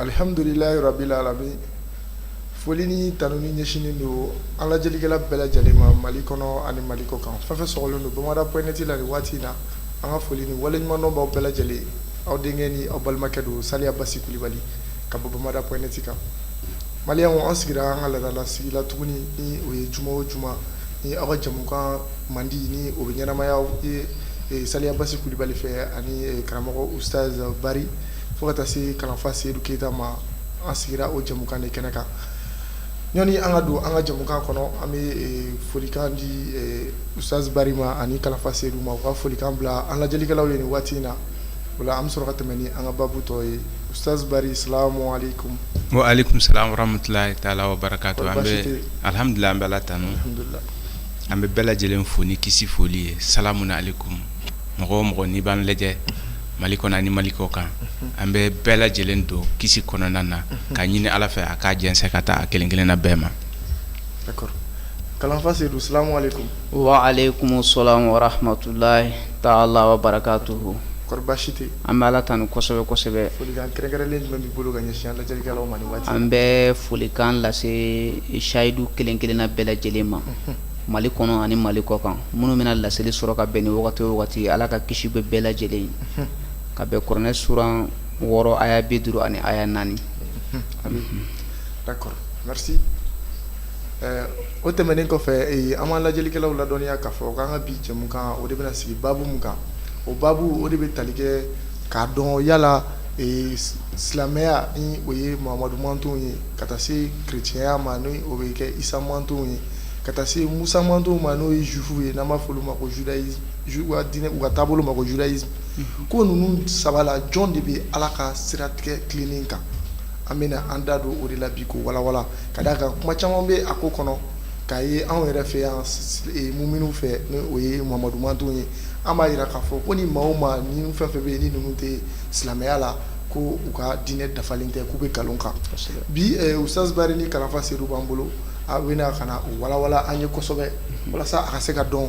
Alihamdulilayi rabil alamin foli ni tanuni ɲɛsinnen don an lajɛlikɛla bɛɛ lajɛlen ma mali kɔnɔ ani mali kɔ kan fɛn fɛn sɔgɔlen don bamada point net la ni waati in na an ka foli ni waleɲumandɔn b'aw bɛɛ lajɛlen aw denkɛ ni aw balimakɛ don saliya basi kulibali ka bɔ bamada point net kan mali an sigira an ka laadala sigi la tuguni ni o ye juma o juma ni aw ka jɛmukan mandi ni o bɛ ɲɛnamaya ye saliya basi kulubali fɛ ani karamɔgɔ Ustaz Bari fo ka taa se kalanfa Sedu keyita ma an sigira o jɛmukan in kɛnɛ kan yanni an ka don an ka jɛmukan kɔnɔ an bɛ folikan di Ustaz Bari ma ani kalanfa Sedu ma u ka folikan bila an lajɛlikɛlaw ye waati in na o an bɛ sɔrɔ ka tɛmɛn ni an ka baabu tɔ ye Ustaz Bari salamu aleyikum. Wa aleyikum salaam wa rahmatulahi taala wa barakatu. Kɔri baasi tɛ yen? An bɛ alihamudulila an bɛ ala tanu. Alhamdulila. An bɛ bɛɛ lajɛlen fo ni kisi foli ye salamu aleyikum mɔgɔ o mɔgɔ n'i b'an lajɛ mali kɔnɔ ani mali kɔ kan an bɛ bɛɛ lajɛlen don kisi kɔnɔna na ka ɲini ala fɛ a k'a jɛnsɛn ka taa a kelen kelenna bɛɛ ma. D'accord. Kalanfa Sedu salamu aleyikum. Wa aleyikumu salamu wa rahmatulahi taala wa barakatuhu. Kɔri baasi tɛ yen? An bɛ ala tanu kosɛbɛ kosɛbɛ an bɛ folikan lase sayidu kelen- kelenna bɛɛ lajɛlen ma mali kɔnɔ ani mali kɔ kan minnu bɛna laseli sɔrɔ ka bɛn ni wagati o wagati ala ka kisi bɛ bɛɛ lajɛlen ye ka bɛn kuranɛ suran wɔɔrɔ aya bi duuru ani aya naani o tɛmɛnen kɔfɛ an b'an lajɛlikɛlaw ladɔnniya k'a fɔ k'an ka bi jɛmukan o de bɛna sigi baabu min kan o baabu o de bɛ tali kɛ k'a dɔn yala silamɛya ni o ye Muhamadu mantonw ye ka taa se kerecɛnya ma ni o bɛ kɛ Isa mantonw ye ka taa se Musa mantonw ma n'o ye juifuw ye n'an b'a fɔ olu ma ko judaisme u ka diinɛ u ka taabolo ma ko judaisme ko ninnu saba la jɔn de bɛ Ala ka siratigɛ tilennen kan an bɛna an da don o de la bi k'o walawala ka d'a kan kuma caman bɛ a ko kɔnɔ k'a ye anw yɛrɛ fɛ yan muminiw fɛ ni o ye Muhamadu mantonw ye an b'a jira k'a fɔ ko ni maa o maa ni fɛn fɛn bɛ yen ni ninnu tɛ silamɛya la ko u ka diinɛ dafalen tɛ k'u bɛ nkalon kan bi Ustaz Bari ni kalanfa Sedu b'an bolo a bɛna ka na o walawala an ye kosɛbɛ walasa a ka se ka dɔn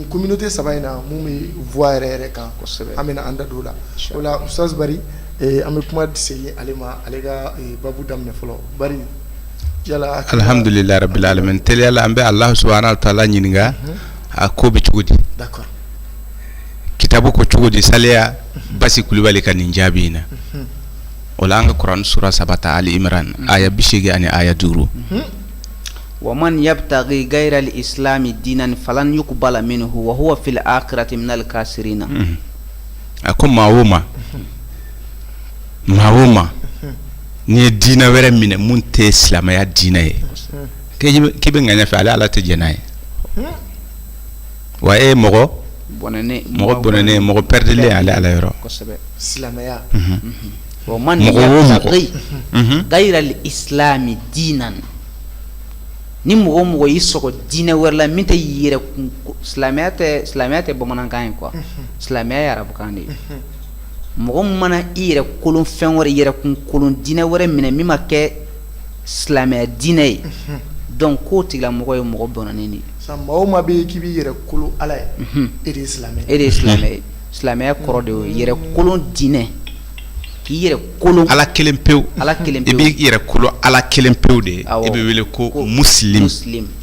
kominote saba in na minnu bɛ bɔ yɛrɛ yɛrɛ kan kosɛbɛ an bɛna an da don la o la sansri an bɛ kuma segin ale ma ale ka baabu daminɛ fɔlɔ alihamdulila rabil alamin an bɛ ala subuhana wa taala ɲininka a ko bɛ cogo di kitabu ko cogo di saliya basi kulubali ka nin jaabi in na o an ka kuran sura saba ta ali imran aya bi segin ani aya duuru wa man yabtagi gayira l-islami diinan falan yukbala minhu wa huwa fil akirati minal kasirina a ko maa o maa maa o maa n'i ye dinɛ wɛrɛ minɛ min tɛ silamɛya dinɛ ye k'i b'o nɔfɛ ale ala tɛ jɛn n'i ye wa e mɔgɔ mɔgɔ bɔnɛnen mɔgɔ pɛrdilen ale ala yɔrɔ man gayira l-islami diinan ni mɔgɔ o mɔgɔ y'i sɔrɔ dinɛ wɛrɛ la min tɛ yɛrɛ silamɛya silamɛya tɛ bamanankan ye quoi silamɛya arabukan de ye mɔgɔ mana i yɛrɛ kolon fɛn wɛrɛ yɛrɛ kun kolon dinɛ wɛrɛ minɛ min ma kɛ silamɛya diinɛ ye donc k'o tigilamɔgɔ ye mɔgɔ bɔnɛnen de mɔgɔ ma bɛ k'i bɛ yɛrɛ kolon ala ye e de silamɛ e de silamɛ silamɛya kɔrɔ de ye yɛrɛ kolon diinɛ k'i yɛrɛ kolon ala kelen pewu ala kelen de bɛ yɛrɛ kolon ala kelen pewu de ye e bɛ wele ko muslim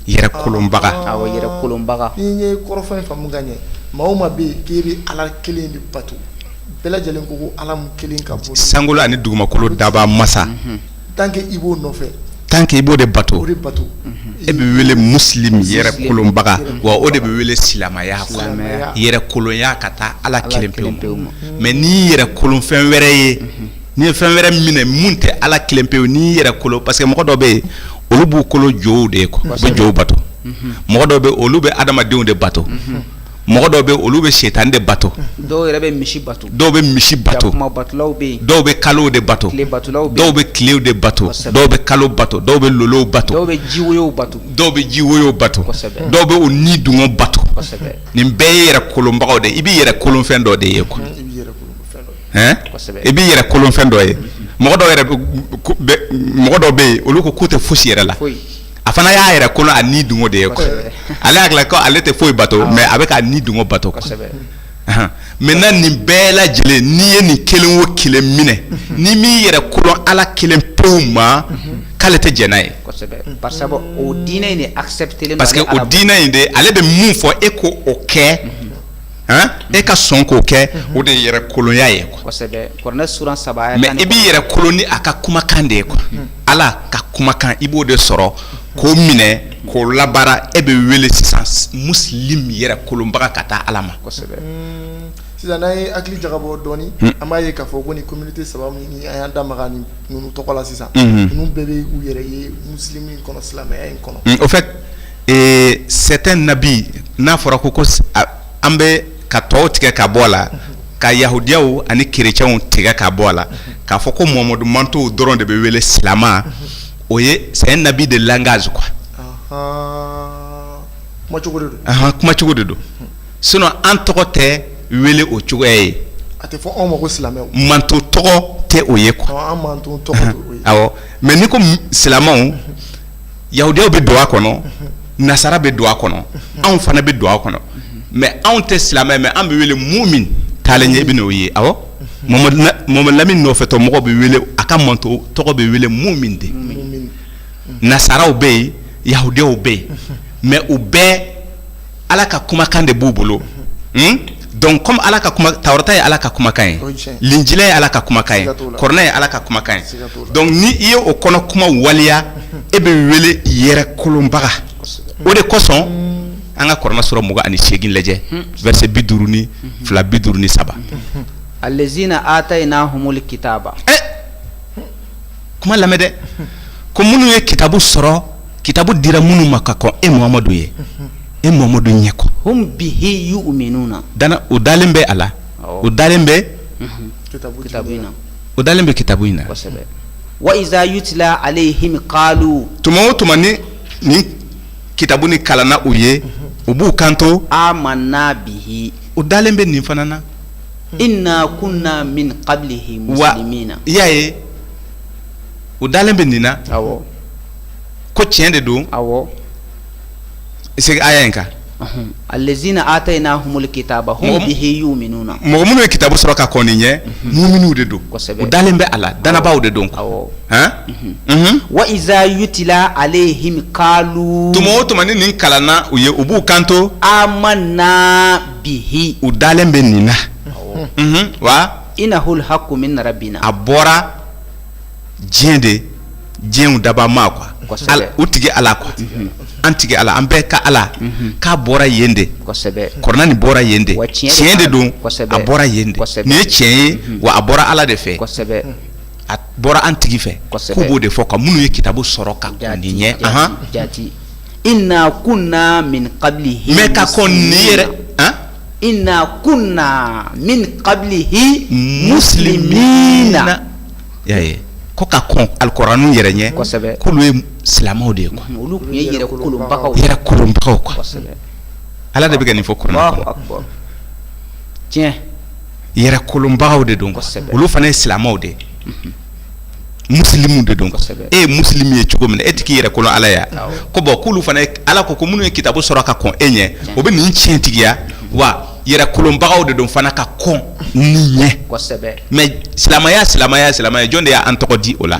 yɛrɛ kolonbaga yɛrɛ kolonbaga ye kɔrɔfɔ faamu ka ɲɛ mɔgɔ ma bɛ k'i bɛ ala kelen de bato bɛɛ lajɛlen ko ala kelen ka bɔ sankolo ani dugumakolo dabaa masa tan i b'o nɔfɛ tan i b'o de bato bato e bɛ wele muslim yɛrɛ kolonbaga wa o de bɛ wele silamɛya yɛrɛkolonya ka taa ala kelen pewu pewu mais n'i yɛrɛ kolon fɛn wɛrɛ ye n'i ye fɛn wɛrɛ minɛ min tɛ ala kelen pewu n'i yɛrɛ kolo parce que mɔgɔ dɔ bɛ yen olu b'u kolo jow de ye quoi u bɛ jow bato mɔgɔ dɔ bɛ olu bɛ adamadenw de bato mɔgɔ dɔw bɛ olu bɛ sitanɛ de bato dɔw yɛrɛ bɛ misi bato dɔw bɛ misi bato dɔw bɛ kalo de bato dɔw bɛ tile de bato dɔw bɛ kalo bato dɔw bɛ lolow bato dɔw bɛ jiwo bato dɔw bɛ jiwo bato dɔw bɛ u ni dungo bato nin bɛɛ ye yɛrɛ kolonbagaw de i bɛ yɛrɛ kolon fɛn dɔ de ye quoi i bɛ yɛrɛ kolon fɛn dɔ ye mɔgɔ dɔw bɛ yen olu k'u tɛ foyisi yɛrɛ la a fana y'a yɛrɛ kolon a ni dungo de ye ale hakili la ko ale tɛ foyi bato mais a bɛ k'a ni dungo bato maintenant nin bɛɛ lajɛlen n'i ye nin kelen o kelen minɛ n'i m'i yɛrɛ kolon ala kelen pew ma k'ale tɛ jɛn n'a ye parce que o diinɛ in de ale bɛ min fɔ e ko o kɛ e ka sɔn k'o kɛ o de yɛrɛ kolonya ye mais i b'i yɛrɛ kolon ni a ka kumakan de ye quoi ala ka kumakan i b'o de sɔrɔ k'o minɛ k'o labaara e bɛ wele sisan muslim yɛrɛ kolonbaga ka taa ala ma sisan n'an ye hakili jagabɔ dɔɔnin an b'a ye k'a fɔ ko nin communauté saba min an y'an da maga ninnu tɔgɔ la sisan bɛɛ bɛ k'u yɛrɛ ye muslim kɔnɔ silamɛya in kɔnɔ Ee c'est un abus n'a fɔra ko ko an bɛ ka tɔw tigɛ ka bɔ a la ka yahudiyaw ani kirecɛnw tigɛ ka bɔ a la k'a fɔ ko mamadu mantɔn dɔrɔn de bɛ wele silamɛ o ye c'est un abus de langage quoi kuma cogo de don sinon an tɔgɔ tɛ wele o cogoya ye mantɔn tɔgɔ tɛ o ye quoi mais n'i ko silamɛw yahudiyaw bɛ don a kɔnɔ nasara bɛ don a kɔnɔ anw fana bɛ don a kɔnɔ mais anw tɛ silamɛ mais an bɛ wele mumini taalen ɲɛ bɛ'o ye awɔ mamadu lamini nɔfɛtɔ mɔgɔ bɛ wele a ka mantɔn tɔgɔ bɛ wele mumini de nasaraw bɛ yen yahudiyaw bɛ yen mais u bɛɛ ala ka kumakan de b'u bolo donc kɔmi ala ka tawurata ye ala ka kumakan ye linjila ye ala ka kumakan ye kuranɛ ye ala ka kumakan ye donc ni i ye o kɔnɔ kuma waleya e bɛ wele yɛrɛ kolonbaga o de kosɔn an ka kuranɛ sura mugan ani segin lajɛ verset bi duuru ni fila bi duuru ni saba alazina atayinahumul kitaba kuma lamɛn dɛ ko minnu ye kitabu sɔrɔ kitabu dira minnu ma ka kɔn e mamadu ye e mamadu ɲɛ quoi u dalen bɛ a la o dalen bɛ o dalen bɛ kitabu in na wa iza yutla alayihim tuma o tuma ni nin kitabu nin kalanna u ye u b'u kanto amanna bihi u dalen bɛ nin fana na inna kunna min kabilihi musilimina i y'a ye u dalen bɛ nin na ko tiɲɛ de don segin aya in kan alazina atayinahumul kitaba hum bihi yuminuna mɔgɔ minnu ye kitabu sɔrɔ ka kɔn i ɲɛ muminiw de don u dalen bɛ a la dannabaaw de don wa iza yutla alayihim tuma o tuma ni nin kalanna u ye u b'u kanto amanna bihi u dalen bɛ nin na unhun wa inahul haqqu min rabbina a bɔra diɲɛ de diɲɛw dabaa ma quoi Kosɛbɛ. Al- u tigi ala quoi an tigi ala an bɛɛ ka ala k'a bɔra yen de kosɛbɛ kuranɛ nin bɔra yen de Wa tiɲɛ de tiɲɛ de b'a don la. Kosɛbɛ. a bɔra yen de Kosɛbɛ. nin ye tiɲɛ ye wa a bɔra ala de fɛ kosɛbɛ a bɔra an tigi fɛ Kosɛbɛ. k'u b'o de fɔ ko minnu ye kitabu sɔrɔ ka kɔn nin ɲɛ jati, ahan jati Inna kunna min kabilihi ka kɔn nin yɛrɛ inna kunna min kabilihi musilimina ko ka kɔn alikuranɛ yɛrɛ ɲɛ kosɛbɛ ko olu ye silamɛw de ye olu tun ye yɛrɛ kolonbagaw ala de bɛ ka nin fɔ tiɲɛ yɛrɛ kolonbagaw de don olu fana ye silamɛw de ye musilimu de don e ye musilimu ye cogo min na e tɛ k'i yɛrɛ kolo ala ye a ko bon k'olu fana ala ko ko minnu ye kitabu sɔrɔ ka kɔn e ɲɛ o bɛ nin tiɲɛ tigiya wa yɛrɛ kolobagaw de don fana ka kɔn nin ɲɛ mais silamɛya silamɛya silamɛya jɔn de y'an tɔgɔ di o la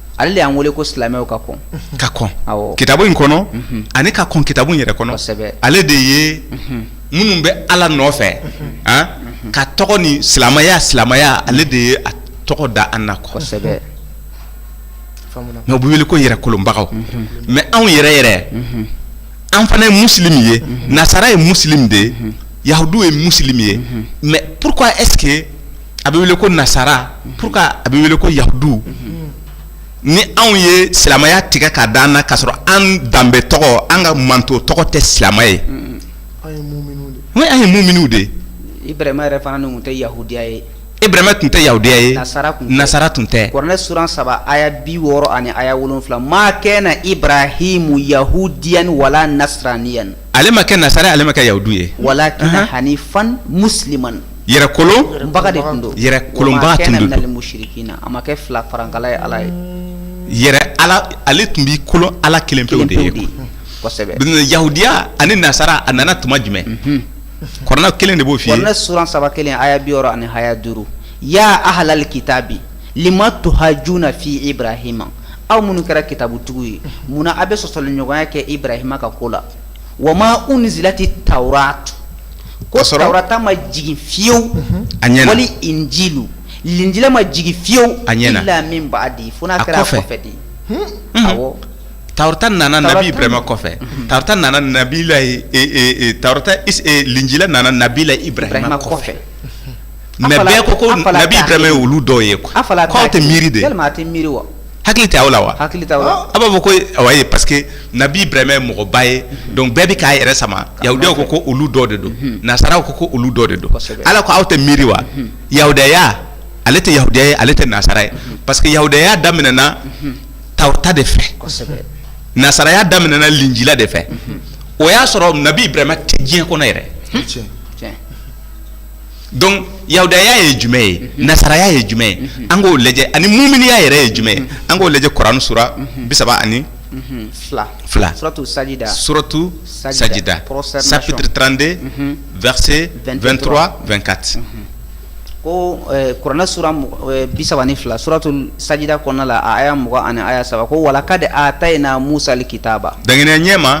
ale y'an weele ko silamɛw ka kɔn ka kɔn kitabu in kɔnɔ ani ka kɔn kitabu yɛrɛ kɔnɔ ale de ye minnu bɛ ala nɔfɛ ka tɔgɔ ni silamɛya silamɛya ale de ye tɔgɔ da an na kɔsɛbɛ o bɛ wele ko yɛrɛ kolobagaw mais anw yɛrɛ yɛrɛ an fana ye musilimu ye nasara ye musilimu de ye yahudu ye musilimu ye mais pourquoi est-ce que a bɛ wele ko nasara pourquoi a bɛ wele ko yahudu ni anw ye silamɛya tigɛ ka d'an na ka sɔrɔ an danbe tɔgɔ an ka manto tɔgɔ tɛ silamɛ ye an ye muminuw de ye Ibrahima yɛrɛ fana tun tɛ yahudiya ye e Ibrahima tun tɛ yahudiya ye nasara tun tɛ nasara tun tɛ kuranɛ suran saba aya bi wɔɔrɔ ani aya wolonwula ma kana Ibrahimu yahudiyan wala nasraniyan ale ma kɛ nasara ale ma kɛ yahudi ye walakin hanifan musiliman yɛrɛkolobaga de tun don yɛrɛkolobaa tun minal musirikina a ma kɛ fila farankala ye ala ye yɛrɛ ala ale tun b'i kolo ala kelen pe de ye yahudiya ani nasaraya nana tuma jumɛn kuranɛ kelen de b'o f'i ɲɛ suran saba kelen aya bi wɔɔrɔ ani haya duuru ya ahalali kitabi lima tuhajuna fi ibrahima aw minnu kɛra kitabutigi ye munna aw bɛ sɔsɔli ɲɔgɔnya kɛ ibrahima ka ko la wa ma unzilati tawratu ko tawrata ma jigin fiyewu wali injilu linjila ma jigin fiyewu ila min baadi fo n'a kɛra kɔfɛ de ye tawrata nana nabi ibrahima kɔfɛ tawrata nana nabilayi tawrata linjila nana nabila ibrahima kɔfɛ mais bɛɛ ko ko nabi ibrahima ye olu dɔw ye quoi k'aw tɛ miiri de miiri wa hakili tɛ aw la wa hakili tɛ aw la ah. a b'a fɔ ko awa ye parce que nabi ibrahima ye mɔgɔba ye mhm. donc bɛɛ bɛ k'a yɛrɛ sama yahudiyaw ko ko olu dɔ de don mhm. nasaraw ko ko olu dɔ de don ala ko aw tɛ miiri wa mhm. yahudiyaya ale tɛ yahudiya ye ale tɛ nasara ye parce que yahudiyaya daminɛna tawrata de fɛ nasaraya daminɛna linjila de fɛ o y'a sɔrɔ nabi ibrahima tɛ diɲɛ kɔnɔ yɛrɛ donc yahudiyaya ye jumɛn ye mhm. nasaraya ye jumɛn ye mhm. an k'o lajɛ ani muminiya yɛrɛ ye jumɛn ye mhm. an k'o lajɛ kuranɛ sura bi saba ani fila fila suratu sajida suratu sajida chapitre 32 verset 23 24 ko eh, kuranɛ sura eh, bi saba ni fila suratu sajida kɔnɔna la a aya mugan ani aya saba ko walakad atayna musa alkitaba dankɛnɛya ɲɛma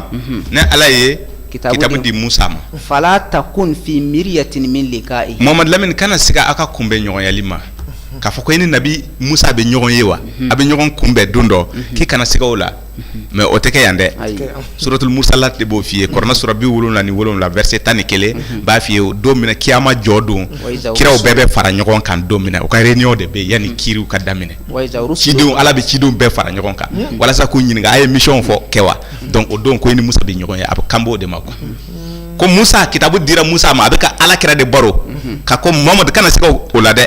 ne ala ye Ki di musa ma fala takun fi miriyatin min lika mamadu lamini kana siga aw ka kunbɛn ɲɔgɔnyeli ma k'a fɔ ko e ni nabi musa bɛ ɲɔgɔn ye wa a bɛ ɲɔgɔn kunbɛn don dɔ k'i kana siga o la mɛ o tɛ kɛ yan dɛ suratul mursalati b'o fɔ i ye kɔrɔnɛ sura bi wolonwula ni wolonwula verset tan ni kelen b'a fɔ i ye o don min na kiyama jɔ don kiraw bɛɛ bɛ fara ɲɔgɔn kan don min na u ka réunion de bɛ yanni kiriw ka daminɛ cidenw ala bɛ cidenw bɛɛ fara ɲɔgɔn kan walasa k'u ɲininka aw ye mission fɔ kɛ wa dɔnku o don ko i ni musa bɛ ɲɔgɔn ye a bɛ kan b'o de ma kuwa ko musa kitabu dira musa ma a bɛ ka ala kira de baro ka ko mamadu kana siga o la dɛ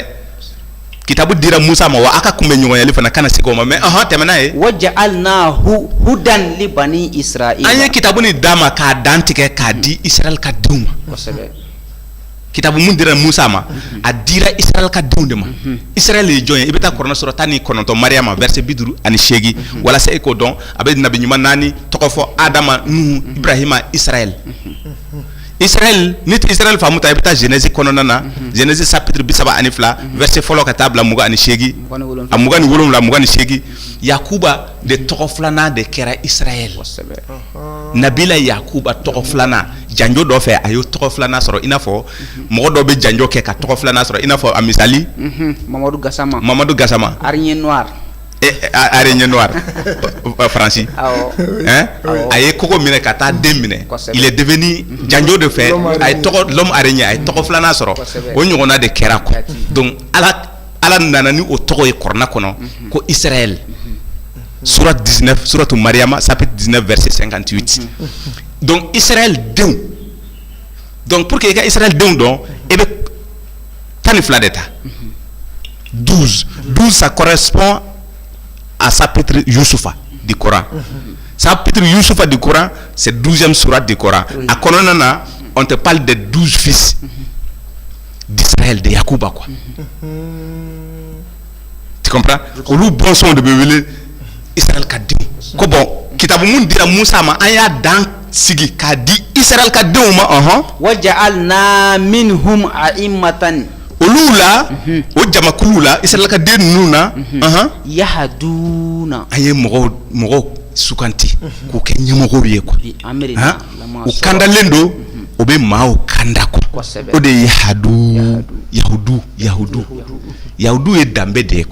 kitabu dira musa ma wa aw ka kunbɛn ɲɔgɔnyeli fana kana siga o ma mɛ ahɔn tɛmɛ n'a ye wa ja'alnahu hudan li bani an ye kitabu nin d'a ma k'a dantigɛ k'a di israel ka denw ma kitabu mun dira musa ma mhm. a dira israel ka denw de ma mhm. israel ye jɔn ye i bɛ taa kɔrɔnɛ sura tan ni kɔnɔntɔn mariyama verset bi duuru ani seegin mhm. walasa e k'o dɔn a bɛ nabi ɲuman naani tɔgɔ fɔ adama nuhu ibrahima israel israel n'i tɛ israel faamu ta i bɛ taa genèse kɔnɔna na genèse chapitre bi saba ani fila verset fɔlɔ ka taa bila mugan ani seegin a mugan ni wolonwula mugan ni seegin yakuba de tɔgɔ filanan de kɛra israel nabila yakuba tɔgɔ filanan janjo dɔ fɛ a y'o tɔgɔ filanan sɔrɔ i n'a fɔ mɔgɔ dɔ bɛ janjo kɛ ka tɔgɔ filanan sɔrɔ i n'a fɔ a misali mamadu gasama mamadu gasama araignée noire eh, eh, araignée noire faransi a ye kogo minɛ ka taa den minɛ il est devenu mhm. janjo de fɛ a ye tɔgɔ l'homme araignée a ye tɔgɔ filanan sɔrɔ o ɲɔgɔnna de kɛra quoi donc ala ala nana ni o tɔgɔ ye kna kɔnɔ ko i sera suratu mariama sap diinɛ vri sen kan ci ci dɔnku i sera denw dɔnku pour que i ka i sera denw dɔn e bɛ tan ni fila de ta du du sa kɔrɔsp a sap petirisufa di kɔrɔ sa petirisufa di kɔrɔ se duzɛn sura di kɔrɔ a kɔnɔna na tɛ paale de dusu fi d'Israël de Yakuba quoi tu comprends olu bɔnsɔnw de bɛ wele Israël ka denw ko bon kitabu mun dira Musa ma an y'a dan sigi k'a di Israël ka denw ma ɔhɔn wa ja'alna minhum a'immatan olu la mhm. o jamakuluw la Israël ka den ninnu na mhm. ɔhɔn yahaduna an ye mɔgɔw mɔgɔw sugandi mhm. k'u kɛ ɲɛmɔgɔw ye quoi u kandalen don u bɛ maa kanda ko o de ye yahadu yahudu yahudu yahudu ye danbe de ye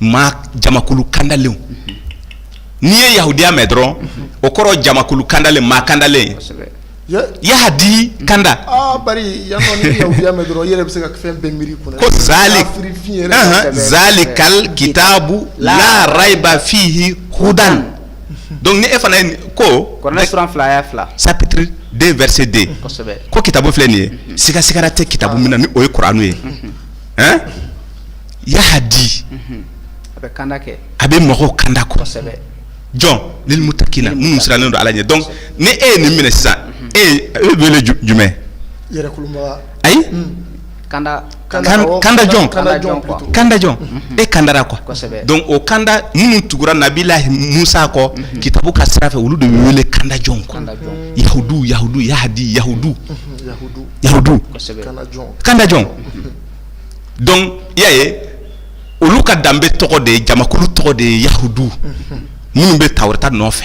maa jamakulu kandalen n'i ye yahudiya mɛn dɔrɔn o kɔrɔ jamakulu kandalen maa kandalen yahadi kanda zalikal kitabu la rayiba fihi hudan donc ni e fana ye ko fila aya fila chapitre deux verset deux ko kitabu filɛ nin ye siga sigara tɛ kitabu min na ni o ye kuranu ye ɛn yahdi a bɛ mɔgɔw kanda ko jɔn lil mutakina minnu sirannen don ala ɲɛ donc ni e ye nin minɛ sisan e bɛ wele jumɛn ayi kanda jɔn kanda jɔn e kandara ko donc o kanda minnu tugura nabila musa kɔ kitabu ka sira fɛ olu de bɛ wele kanda jɔn yahudu yahudu yahdi yahudu yahudu kanda jɔn donc i y'a ye olu ka danbe tɔgɔ de ye jamakulu tɔgɔ de ye yahudu minnu bɛ tawurata nɔfɛ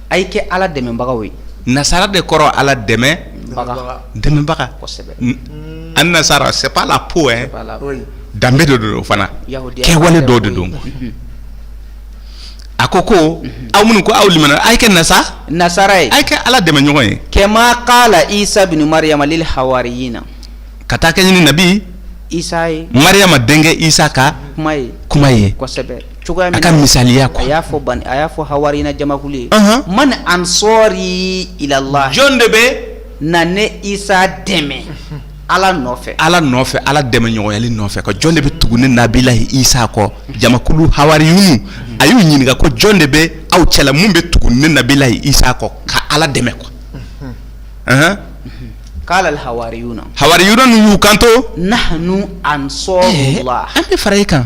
A ye kɛ ala dɛmɛbagaw ye nasara de kɔrɔ ala dɛmɛ dɛmɛbaga an nasara se la ko danbe dɔ don o fana kɛwale dɔ de don a ko ko aw minnu ko aw a ye kɛ na nasara ye a kɛ ala dɛmɛ ɲɔgɔn ye kama kala isa mariama ha na ka taa kɛɲɛ ni nabi isa mariama denkɛ isa ka kuma ye kuma ye cogoya min a ka misaliya ko a y'a fɔ ban a y'a fɔ hawariyina jamakulu ye man ansɔɔri ilala jɔn de bɛ na ne isa dɛmɛ ala nɔfɛ ala nɔfɛ ala dɛmɛ ɲɔgɔnyali nɔfɛ ko jɔn de bɛ tugu ne nabila isa kɔ jamakulu hawariyun a y'u ɲininka ko jɔn de bɛ aw cɛla min bɛ tugu ne nabila isa kɔ ka ala dɛmɛ ko kala hawariyun hawariyun y'u kanto nahnu ansɔɔri an bɛ fara i kan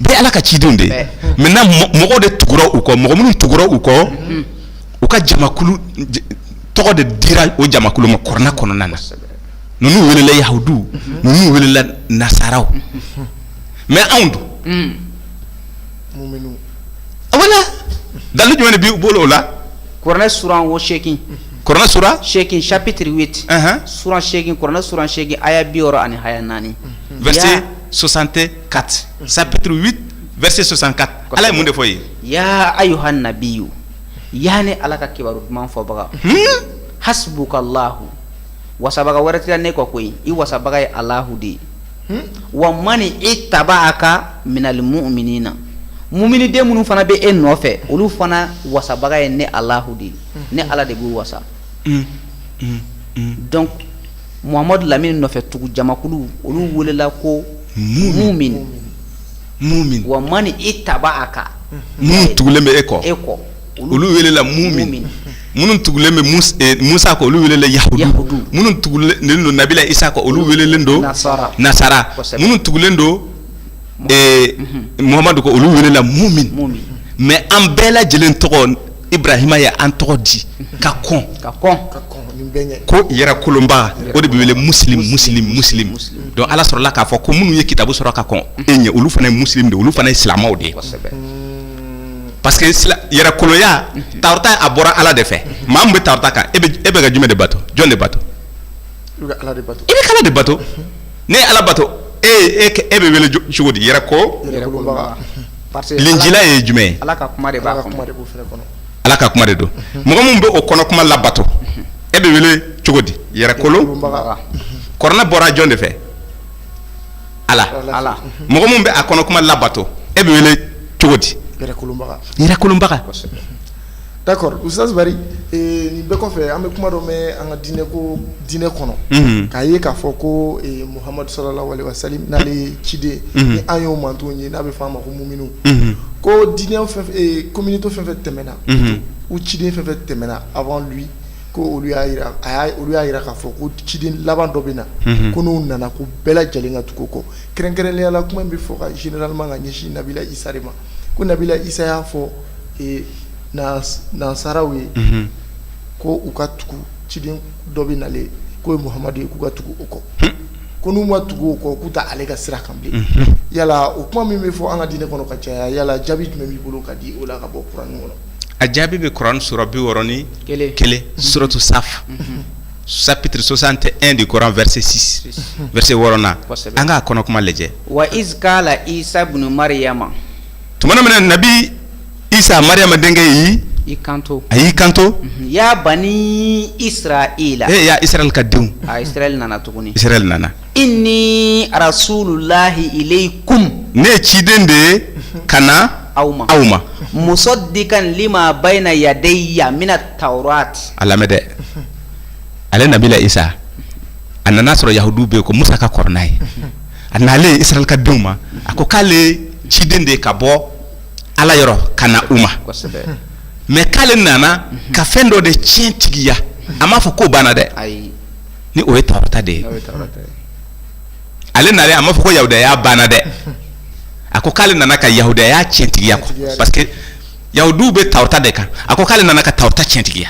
bɛɛ ala ka cidenw de ye maintenant mɔgɔ de tugu u kɔ mɔgɔ minnu tugu u kɔ mm-hmm. u ka jamakulu tɔgɔ de dira o jamakulu ma kurana kɔnɔna na ninnu welela yahudu mm-hmm. ninnu welela nasaraw mm-hmm. mais anw dun mm. wala dalu jumɛn de b'i bolo o la kurana suran wo segin kurana sura segin chapitre huit suran segin kurana suran segin aya bi wɔɔrɔ ani aya naani soixante-quatre chapitre huit verset soixante-quatre ala ye mun de fɔ ye ya ayuha nabiyu yaani ala ka kibaru duman fɔbaga hasbuka lahu wasabaga wɛrɛ t'i la ne kɔ ko i wasabaga ye alahu de ye wa mani taba'aka minal muminina mummini den minnu fana bɛ e nɔfɛ olu fana wasabaga ye ne alahu de ye ne ala de b'u wasa donc Muhamadu lamini nɔfɛ tugu jamakulu olu welela ko mumin wa mani taba aka minnu tugulen bɛ e kɔ e kɔ olu welela mumin minnu tugulen bɛ musa kɔ olu welela yahudu minnu tugulen don nabila isa kɔ olu welelen don nasara minnu tugulen don muhamadu kɔ olu welela mumin mɛ an bɛɛ lajɛlen tɔgɔ ibarahima ye an tɔgɔ di ka kɔn ko yɛrɛkolonba o de bɛ wele musilimu musilimu musilimu donc ala sɔrɔla k'a fɔ ko minnu ye kitabu sɔrɔ ka kɔn e ɲɛ olu fana ye musilimu de olu fana ye silamɛw de ye parce que sila yɛrɛkolonya tawurata a bɔra ala de fɛ maa min bɛ tawurata kan e bɛ ka jumɛn de bato jɔn de bato i bɛ ka ala de bato n'e ye ala bato e e e bɛ wele cogo di yɛrɛkolonba linjila ye jumɛn ala ka kuma de don mɔgɔ min bɛ o kɔnɔ kuma labato e bɛ wele cogo di yɛrɛkolonba kuranɛ bɔra jɔn de fɛ ala mɔgɔ min bɛ a kɔnɔ kuma labato e bɛ wele cogo di yɛrɛkolonbaga D'accord usutazi bari nin bɛɛ kɔfɛ an bɛ kuma dɔ mɛn an ka diinɛ ko diinɛ kɔnɔ k'a ye k'a fɔ ko muhamadu salalahu alayihi wa salam ala ciden ni an y'o man ye n'a bɛ fɔ a ma ko muhamadu ko diinɛ communauté fɛn fɛn tɛmɛna ko ciden fɛn fɛn tɛmɛna avant lui ko olu y'a jira a olu y'a jira k'a fɔ ko ciden laban dɔ bɛ na ko n'o nana ko bɛɛ lajɛlen ka tugu o kɔ kɛrɛnkɛrɛnliya la kuma bɛ fɔ ka généralement ka ɲɛsin nabila isa ma ko nabila isa y'a fɔ nasaraw ye ko u ka tugu ciden dɔ bɛ na ale kɔ o ye muhamadu ye k'u ka tugu o kɔ ko n'u ma tugu o kɔ k'u tɛ ale ka sira kan bilen yala o kuma min bɛ fɔ an ka diinɛ kɔnɔ ka caya yala jaabi jumɛn b'i bolo ka di o la ka bɔ kuranɛ kɔnɔ a jaabi bɛ kuranɛ sura bi wɔɔrɔ ni kelen suratu sa chapitre soixante et un de coran verset six verset wɔɔrɔnan an k'a kɔnɔ kuma lajɛ wa kala isa bunu mariyama tuma min nabi isa mariyama denkɛ ye i kanto a y'i kanto ya bani isirayila e isirayila ka denw a nana tuguni i nana Inni rasulullahi ilayikum ne ye ciden de ye ka na aw ma aw ma musadikan lima bayina yadaya mina tawurati a lamɛn dɛ ale nabila isa a nana sɔrɔ yahudu bɛ yen ko musa ka kɔrɔna ye a nalen isirayila ka denw ma a ko k'ale ciden de ye ka bɔ ala yɔrɔ ka na u ma mɛ k'ale nana ka fɛn dɔ de tiɲɛtigiya a m'a fɔ ko banna dɛ ni o ye tawurata de ye ale na a ma fɔ ko yahudiya banna dɛ a ko k'ale nana ka yahudiya cɛntigiya parce que yahudiw bɛ tawurata de kan a ko k'ale nana ka tawurata cɛntigiya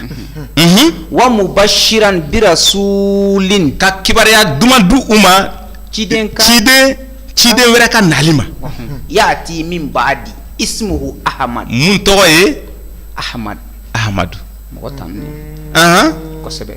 wa mubasiran bi rasulin ka kibaruya duman di u ma ciden ciden ciden wɛrɛ ka naali ma yaati min baadi ismu ahamadu mun tɔgɔ ye ahamadu ahamadu mɔgɔ tanu kosɛbɛ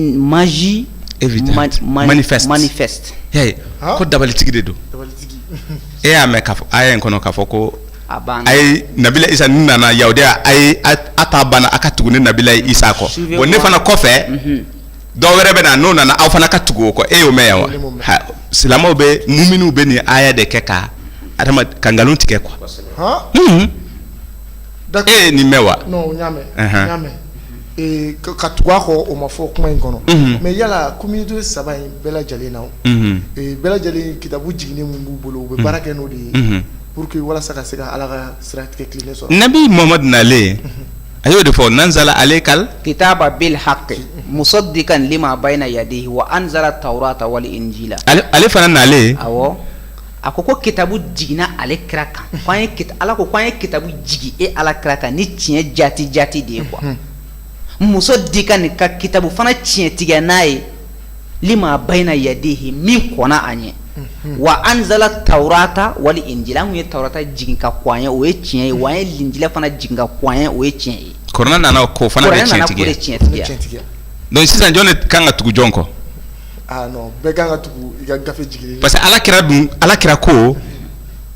magie manifeste ko dabalitigi de don e y'a mɛn aya in kɔnɔ k'a fɔ ko ayi nabila isa n nana yahudiya ayi a ta banna a ka tugu ne nabila isa kɔ bon ne fana kɔfɛ dɔ wɛrɛ bɛ na n'o nana aw fana ka tugu o kɔ e y'o mɛn yan wa silamɛw bɛ munnu bɛ nin aya de kɛ ka adama ka nkalon tigɛ quoi e nin mɛn wa ka tugu a kɔ o ma fɔ kuma in kɔnɔ mais yala communauté saba in bɛɛ lajɛlen a bɛɛ lajɛlen kitabu jiginnen min b'u bolo u bɛ baara kɛ n'o de ye pour que walasa ka se ka ala ka sira tilennen sɔrɔ nabi muhamadu nalen a y'o de fɔ nazala alayka likitaba bilhaki musadikan lima bayina yadayhi wa anzala tawurata wal injila ale fana nalen a ko ko kitabu jiginna ale kira kan ala ko k'an ye kitabu jigin e ala kira kan ni tiɲɛ jati jati de ye quoi musadikan ani ka kitabu fana tiɲɛtigiya n'a ye lima bayina yadayhi min kɔnna a ɲɛ wa anzala tawurata wal injila an ye tawurata jigin ka kɔn a ɲɛ o ye tiɲɛ ye wa an ye linjila fana jigin ka kɔn a ɲɛ o ye tiɲɛ ye kuranɛ nana k'o fana tiɲɛtigi tiɲɛtigiya sisan jɔn de kan ka tugu jɔn kɔ parce que ala kira dun ala kira ko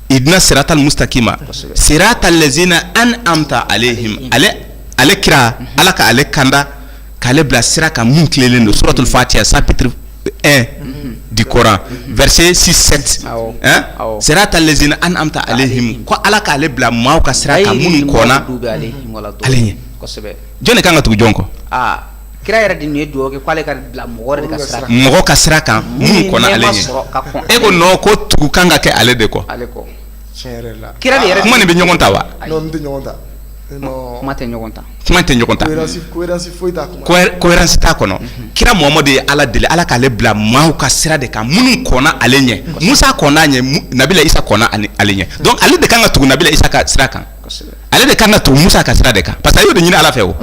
ihidina siratal musitakima siratal lazina anamta alayhim ale kira ala ka ale kanda k'ale bila sira kan mun tilelen don suratul fatiha chapitre un du coran verset six siratal lazina anamta alayhim ko ala k'ale bila maaw ka sira kan minnu kɔnna ale ɲɛ jɔnni ka kan ka tugu jɔn kɔ kira yɛrɛ de ye dugawu k'ale ka bila mɔgɔ mɔgɔ ka sira kan e ko ko tugu kan ka kɛ ale de kɔ kira yɛrɛ kuma nin bɛ ɲɔgɔn ta wa kuma tɛ ɲɔgɔn ta kuma tɛ ɲɔgɔn ta cohérence t'a kɔnɔ kira muhamadu ye ala deli ala k'ale bila maaw ka sira de kan minnu kɔnna ale ɲɛ musa kɔn'a ɲɛ nabila isa kɔnna ale ɲɛ ale de kan ka tugu nabila isa ka sira kan ale de kan ka tugu musa ka sira de kan parce que a y'o de ɲini ala fɛ o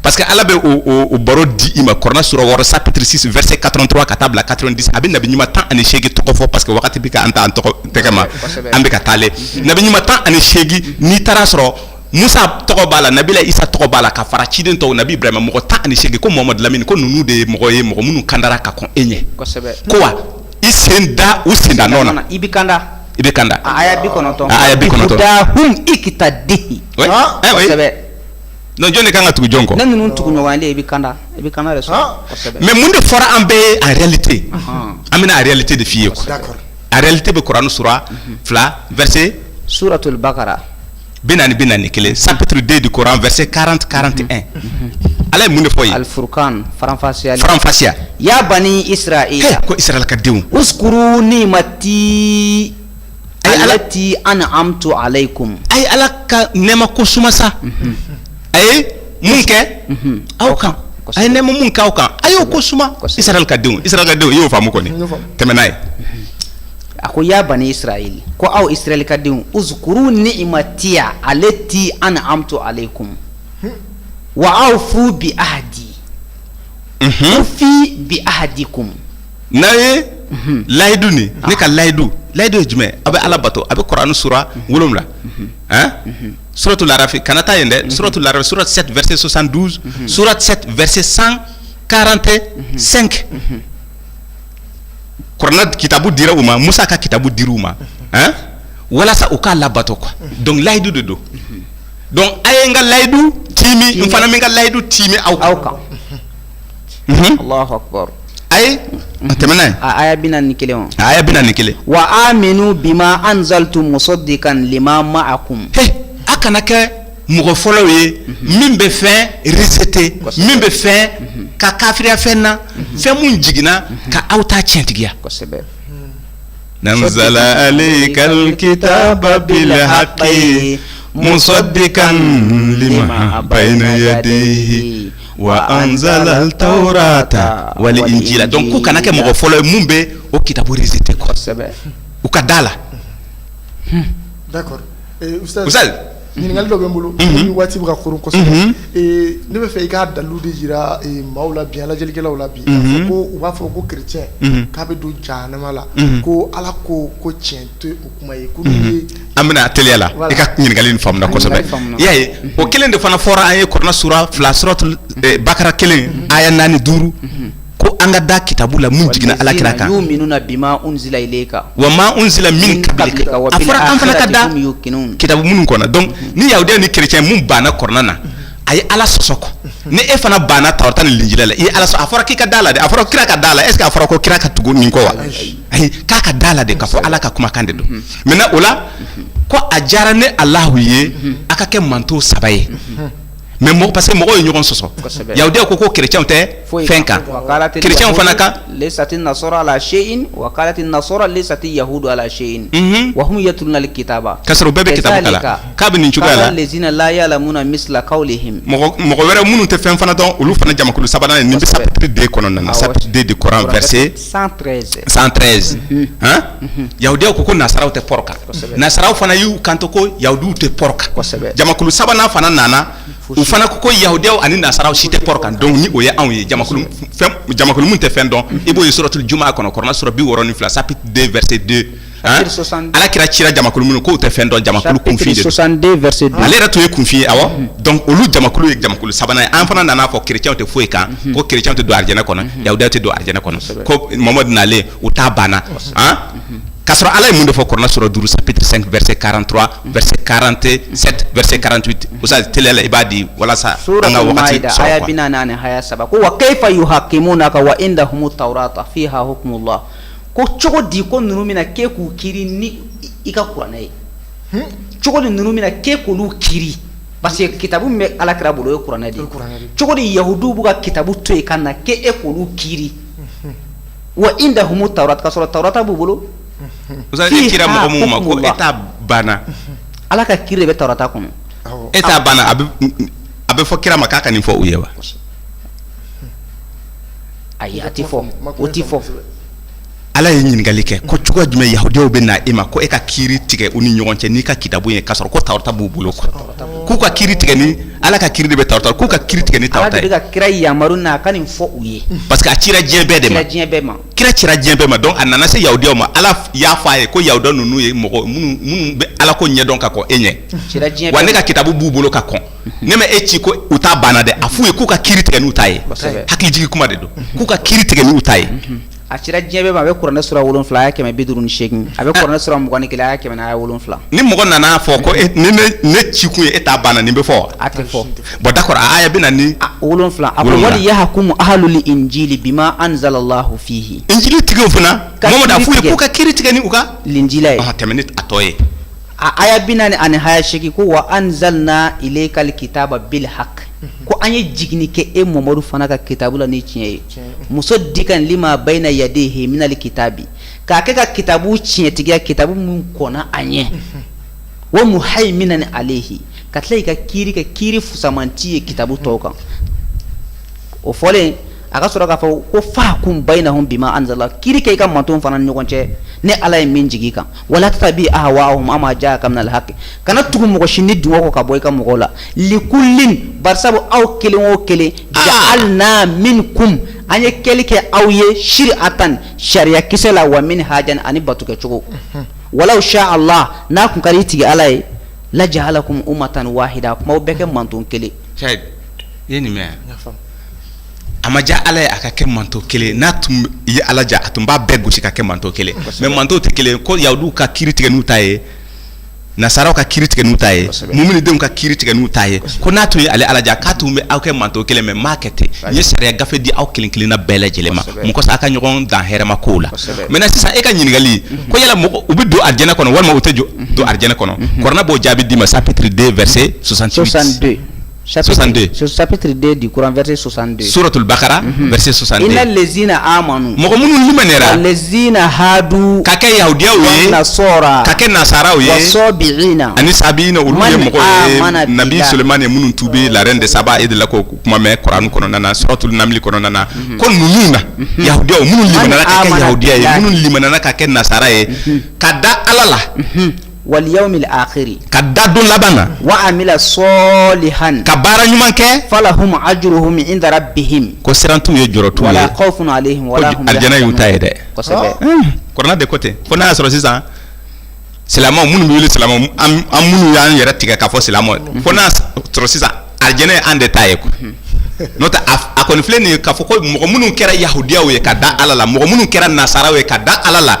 parce que ala bɛ o baro di i ma kuranɛ sura wɔɔrɔ chapitre six verset quatre-vingt-trois ka taa bila quatre-vingt-dix a bɛ nabi ɲuman tan ani seegin tɔgɔ fɔ parce que wagati bɛ ka an taa an tɔgɔ tɛgɛ ma an bɛ ka taalen nabi ɲuman tan ani seegin n'i taara sɔrɔ musa tɔgɔ b'a la nabilayi isa tɔgɔ b'a la ka fara ciden tɔw nabi ibrahima mɔgɔ tan ani seegin ko mamadu lamini ko ninnu de ye mɔgɔ ye mɔgɔ minnu kandara ka kɔn e ɲɛ ko wa i sen da u senda nɔ na i bɛ kanda i bɛ kanda aya bi kɔnɔntɔn aya bi kɔnɔntɔn dahum iqtadihi kosɛbɛ non jɔn de kan ka tugu jɔn kɔ ne ninnu tugu ɲɔgɔn de i bɛ kanda i bɛ kanda de sɔrɔ kosɛbɛ mais mun de fɔra an bɛɛ ye en réalité an bɛna a réalité de f'i ye quoi a réalité bɛ kurani sura fila verset suratul bakara bi naani bi naani ni kelen chapitre deux du coran verset quarante quarante et un ala ye mun de fɔ yefafasiya ya bani israel ko israel ka denw uskuru ni'matiya allati an'amtu alaykum a ye ala ka nɛma ko suma sa a ye mun kɛ aw kan a ye nɛma min k'aw kan a y'o ko suma israel ka denw israel ka denw y'o faamu kɔni tɛmɛ n'a ye a ko ya bani israel ko aw israel ka denw uskuru ni'matiya allati an'amtu alaykum wa awfu bi'ahdi ufi bi'ahdikum n'a ye layidu nin ne ka layidu layidu ye jumɛn ye aw bɛ ala bato a bɛ kuran sura wolowula suratu larafi kana taa yen dɛ suratu larafi sourate sept verset soixante-douze sourate sept verset cent quarante-cinq kuranɛ kitabu dira u ma musa ka kitabu dira u ma hein? walasa u k'ala bato quoi donc layidu de don donc a ye n ka layidu tiimi n fana bɛ n ka layidu tiimi aw aw kan Mhm. allahu akbar a ye a tɛmɛ n'a ye a aya bi naani ni kelen wa aya bi naani ni kelen wa aminu bima anzaltu musaddikan lima ma'akum he a kana kɛ mɔgɔ fɔlɔw ye min bɛ fɛn rejeter min bɛ fɛn ka kafiriya fɛn na fɛn min jiginna ka aw ta tiɲɛtigiya nazzala alayka hakki musaddikan ba ye wa anzala tawrata wal injila donc aw kana kɛ mɔgɔ fɔlɔ ye min bɛ o kitabu rejeter u ka da a la Ɲininkali dɔ bɛ n bolo waati bɛ ka kɔrɔ kosɛbɛ ne bɛ fɛ i k'a dalu de jira maaw la bi an lajɛlikɛlaw la bi ko u b'a fɔ ko kerecɛn k'a bɛ don jahanama la ko ala ko ko cɛn tɛ o kuma ye an bɛna a teliya la i ka ɲininkali in faamuna kosɛbɛ y'a ye o kelen de fana fɔra an ye kuranɛ sura fila suratu bakara kelen aya naani duuru ko an ka da kitabu la mun jiginna ala kira kan wa ma unzila min qablika a fɔra an fana ka da kitabu minnu kɔnna donc mhm. ni yahudiya ni chrétien mun banna kuranɛ na a ye ala sɔsɔ kɔ mhm. ni e fana banna tawrata ni linjila la i ye ala sɔsɔ a fɔra k'i ka da la de a fɔra kira ka da la est ce que a fɔra ko kira ka tugu nin kɔ wa ayi k'a ka da la de k'a fɔ ala ka kumakan de don mhm. maintenant o la ko a diyara ne alahu ye a ka kɛ mantɔn saba ye mais mɔgɔ parce que mɔgɔ ye ɲɔgɔn sɔsɔ Kosɛbɛ. yahudiya ko ko kerecɛnw tɛ Foyi fɛn kan Wa kalati kerecɛnw yahudu fana ka lesati nasara ala seyin wa kalati nasara lesati yahudu ala seyin Mhm. wa hum yatluna alkitaba K'a sɔrɔ u bɛɛ bɛ kitabu kalan. Kazalika. K'a bɛ nin cogoya la. Kala lazina la ya'lamuna misla qawlihim mɔgɔ mɔgɔ wɛrɛ minnu tɛ fɛn fana dɔn olu fana jamakulu sabanan ye nin bɛ Kosɛbɛ. chapitre 2 kɔnɔna na Awɔ. chapitre 2 de Coran verset 113 113 han yahudiyaw ko ko nasaraw tɛ pɔrɔ kan nasaraw fana y'u kanto ko yahudiw tɛ pɔrɔ kan kosɛbɛ jamakulu sabanan fana nana u fana ko ko yahudiyaw ani nasaraw si tɛ pɔrɔ kan donc ni o ye anw ye jamakulu fɛn jamakulu min tɛ fɛn dɔn i b'o ye suratul jumaa kɔnɔ kuranɛ sura bi wɔɔrɔ ni fila chapitre 2 verset 2 Chapitre 62 ala kira cira jamakulu minnu k'u tɛ fɛn dɔn jamakulu kunfin chapitre de don 62 verset 2 ale yɛrɛ tun ye kunfin ye awɔ donc olu jamakulu ye jamakulu sabanan ye an fana nana fɔ chrétienw tɛ foyi kan ko chrétienw tɛ don arijɛnɛ kɔnɔ yahudiyaw tɛ don arijɛnɛ kɔnɔ ko mamadu nalen u ta banna han K'a sɔrɔ Ala ye mun de fɔ kuranɛ sura 5 chapitre 5 verset 43 verset 47 verset 48 Ustaz teliya la i b'a di walasa an ka wagati sɔrɔ quoi Souratoul Maïda aya 40 haya 3 ko wa kayfa yuhakimunaka wa indahumut tawrata fiha hukmullah ko cogo di ko ninnu bɛna k'e k'u kiri ni i ka kuranɛ ye cogo di ninnu bɛna k'e k'olu kiri parce que kitabu min bɛ alakira bolo o ye kuranɛ de ye cogo di yahuduw b'u ka kitabu to yen ka na k'e k'olu kiri wa indahum tawrata ka sɔrɔ tawrata b'u bolo mɔgɔ e ta banna ala ka kiri bɛ tawrata kɔnɔ e ta banna a bɛ fɔ kira ma k'a ka nin fɔ u ye wa ayi a tɛ fɔ o tɛ fɔ ala ye ɲininkali kɛ ko cogo jumɛn yahudiyaw bɛ na e ma ko e ka kiri tigɛ u ni ɲɔgɔn cɛ n'i ka kitabu ye ka sɔrɔ ko tawrata b'u bolo k'u ka kiri tigɛ ni Ala ka kiri de bɛ tawrata k'u ka kiri tigɛ ni tawrata ye, Ala de bɛ ka kira yamaru k'a ka nin fɔ u ye, parce que a cira diɲɛ bɛɛ de ma, a cira diɲɛ bɛɛ ma, kira cira diɲɛ bɛɛ ma donc a nana se yahudiyaw ma Ala y'a fɔ a ye ko yahudiya ninnu ye mɔgɔ minnu minnu bɛ Ala ko ɲɛdɔn ka kɔn e ɲɛ, a cira diɲɛ bɛɛ ma, wa ne ka kitabu b'u bolo ka kɔn, ne ma e ci ko u ta banna dɛ, a f'u ye k'u ka kiri tigɛ n'u ta ye, kosɛbɛ, hakili jigin kuma de don, k'u ka kiri tigɛ n'u ta ye a cira diɲɛ bɛɛ ma a bɛ kuranɛ sura wolonwula aya kɛmɛ bi duuru ni seegin a bɛ kuranɛ sura mugan ni kelen aya kɛmɛ ni aya wolonwula ni mɔgɔ nana fɔ ko e- ni ne- ne ci kun ye e ta banna nin bɛ fɔ wa? a tɛ fɔ bon d'accord a aya bi naani ni wolonwula a ko Wolonwula. walyahkum ahlul injili bima anzalallahu fihi injili tigiw fana Ka mɔgɔ da kiri f'u ye tigɛ. k'u ka kiri tigɛ ni u ka linjila ye Ah, tɛmɛ ni a tɔ ye a aya bi naani ani haya seegin ko wa anzalna ilayka alkitaba bilhaq ko an ye jiginni kɛ e mamadu fana ka kitabu la ni tiɲɛ ye musaddikan lima bayna yadayhi minal kitabi k'a kɛ ka kitabu tiɲɛtigiya kitabu minnu kɔnna a ɲɛ wa muhayminan alayhi ka tila i ka kiri ka kiri fusamanti ye kitabu tɔw kan o fɔlen a ka sɔrɔ k'a fɔ ko fahkum baynahum bima anzalallah kiri kɛ i ka manto fana ni ɲɔgɔn cɛ ni ala ye min jigin i kan wala tattabi ahwahum amma jaaka minal hakki kana tugu mɔgɔ si nidungɔ kɔ ka bɔ i ka mɔgɔw la likullin bari sabu aw kelen o kelen jaalna minkum an ye kelen kɛ aw ye siratan sariyakisɛ la wa minhajan ani batokɛcogo walaw shaa allah n'a tun ka di i tigi ala ye lajaalakum ummatan wahida a tun b'a bɛɛ kɛ manto kelen a ma diya ala ye a ka kɛ manto kelen n'a tun ye ala diya a tun b'a bɛɛ gosi ka kɛ manto kelen mais manto tɛ kelen ko yahuduw ka kiri tigɛ n'u ta ye nasaraw ka kiri tigɛ n'u ta ye muminidenw ka kiri tigɛ n'u ta ye ko n'a tun ye ale ala diya k'a tun bɛ aw kɛ manto kelen mais a m'a kɛ ten a ye sariya gafe di aw kelen kelenna bɛɛ lajɛlen ma mun kosɔn a ka ɲɔgɔn dan hɛrɛma ko la maintenant sisan e ka ɲininkali ko yala mɔgɔ u bɛ don arijɛnɛ kɔnɔ walima u tɛ jɔ don arijɛnɛ kɔnɔ kuranɛ b'o jaabi d'i ma chapitre deux verset Satigiurante sɔsɔtoba mɔgɔ minnu zinadu ka kɛ ya ye minnu tu bɛ la de saba e de la ko kuma mɛn kuran kɔnɔna sɔrɔto lamini kɔnɔna na ko ninnu na ya minnu ya minnu ka kɛ nasara ye ka da ala la wal yawmil akhiri ka da don laban na wa amila salihan ka baara ɲuman kɛ falahum ajruhum inda rabbihim ko siran t'u ye jɔrɔ t'u la ko fana arijɛnɛ y'u ta ye dɛ kuranɛ de ko ten fo n'a y'a sɔrɔ sisan silamɛ minnu wele silamɛ an minnu y'an yɛrɛ tigɛ k'a fɔ silamɛ fo n'a sɔrɔ sisan arijɛnɛ ye an de ta ye n'o tɛ a kɔni filɛ nin ye k'a fɔ ko mɔgɔ minnu kɛra yahudiyaw ye ka da ala la mɔgɔ minnu kɛra nasaraw ye ka da ala la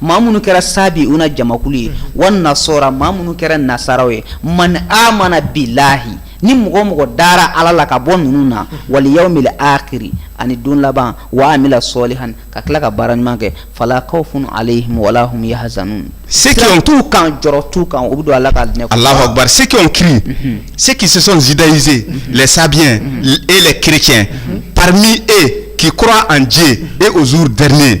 maa minnu kɛra sabi u na jamakulu ye walasasɔrɔ maa minnu kɛra nasaraw ye man a mana bi lahi ni mɔgɔ mɔgɔ dara ala la ka bɔ ninnu na wali y' minɛ aki ani don laban waa minɛ sɔli hali ka tila ka baara ɲuman kɛ falakaw funu ale mɔgɔla ye hazmu se t'u kan jɔ tu kan u bɛ don ala ka diɲɛ a la se ki se k'i sɔnda yze la sabi e la kic pami e k'i kura an jɛ e oz dɛrɛnen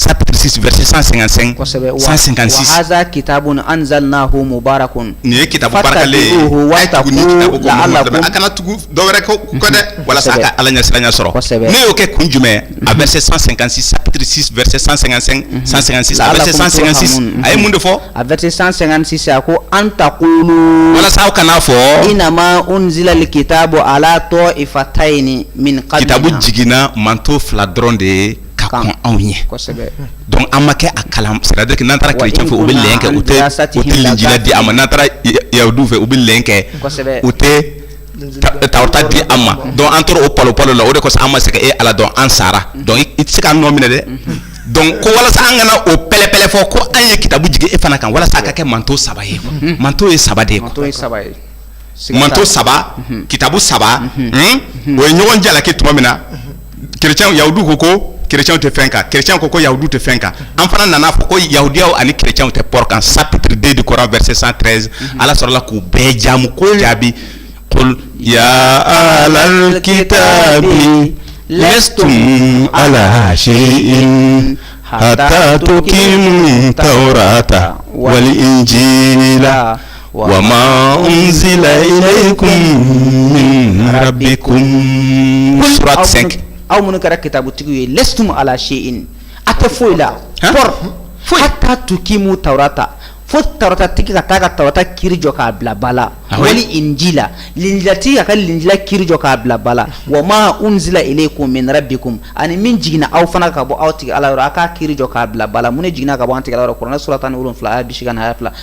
sapsi vse san san san kita anzsaaliina ko mubarak kun nin ye kita bara a kana tugu dɔwɛrɛ ko kɔ dɛ walasa ka ala ɲɛ siran sɔrɔ ne y'o kɛ kun jumɛn a bɛ se san san sapsi vse san san san san san a ye mun de fɔ a bɛ san san a ko an ta ko walasa kana'a fɔ i na anzli keyita bɔ a tɔ i fa ta ɲini min kitabu jiginna manto fila dɔrɔn de ye ka kɔn anw ɲɛ donc an ma kɛ a kalan c'est à dire que n'an taara chrétien fɛ u bɛ lɛn kɛ u tɛ u tɛ linjila di an ma n'an taara yahudiw fɛ u bɛ lɛn kɛ u tɛ tawrata di an ma donc an tora o palo palo la o de kosɔn an ma se ka e ala dɔn an sara donc i tɛ se k'an nɔ minɛ dɛ donc ko walasa an kana o pɛlɛpɛlɛ fɔ ko an ye kitabu jigin e fana kan walasa a ka kɛ manto saba ye quoi manto ye saba de ye quoi manto saba kitabu saba o ye ɲɔgɔn jalaki tuma min na kec ya ko ko kec tɛ fɛn kan kec ko ko ya tɛ fɛn kan an fana nana fɔ ko yahudiyaw ani kecw tɛ pɔ kan sauruden de kɔrɔ bɛ se san treize ala sɔrɔla k'u bɛɛ jamu ko jaabi yalakita lɛtum ala se hata ki ta ta wali ji la wa ma unzila ilaykum min rabbikum surat 5 aw minnu kɛra kitabutigiw ye lestum ala shay'in a tɛ foyi la por foyi hatta tukimu tawrata fo tawratatigi ka taa ka tawrata kiri jɔ k'a bila ba la ah wali injila linjilatigi k'a ka linjila kiri jɔ k'a bila ba la wa ma unzila ilaykum min rabbikum ani min jiginna aw fana ka bɔ aw tigi ala yɔrɔ a k'a kiri jɔ k'a bila ba la mun de jiginna ka bɔ an tigi ala yɔrɔ kuranɛ surat tan ni wolonwula aya bi seegin ani aya fila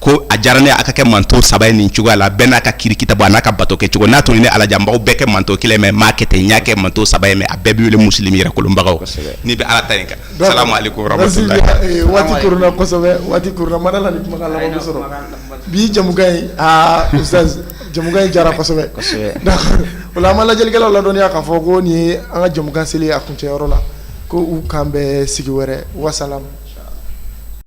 ko a diyara ne a ka kɛ manto saba ye nin cogoya la bɛɛ n'a ka kiri kitabu an'a ka bato kɛ cogo n'a tun di ne ala ye a b'aw bɛɛ kɛ manto kelen mais n m'a kɛ ten n y'a kɛ manto saba ye mais a bɛɛ bɛ wele muslim yɛrɛkolobagaw n'i bɛ ala ta in kan bi jamukan a jamukan janyara kosɛbɛ dɛ o la an ma lajɛlikɛlaw ladɔnniya k'a fɔ ko nin ye an ka jamukan seli a kuncɛyɔrɔ la ko k'an bɛn sigi wɛrɛ wasalam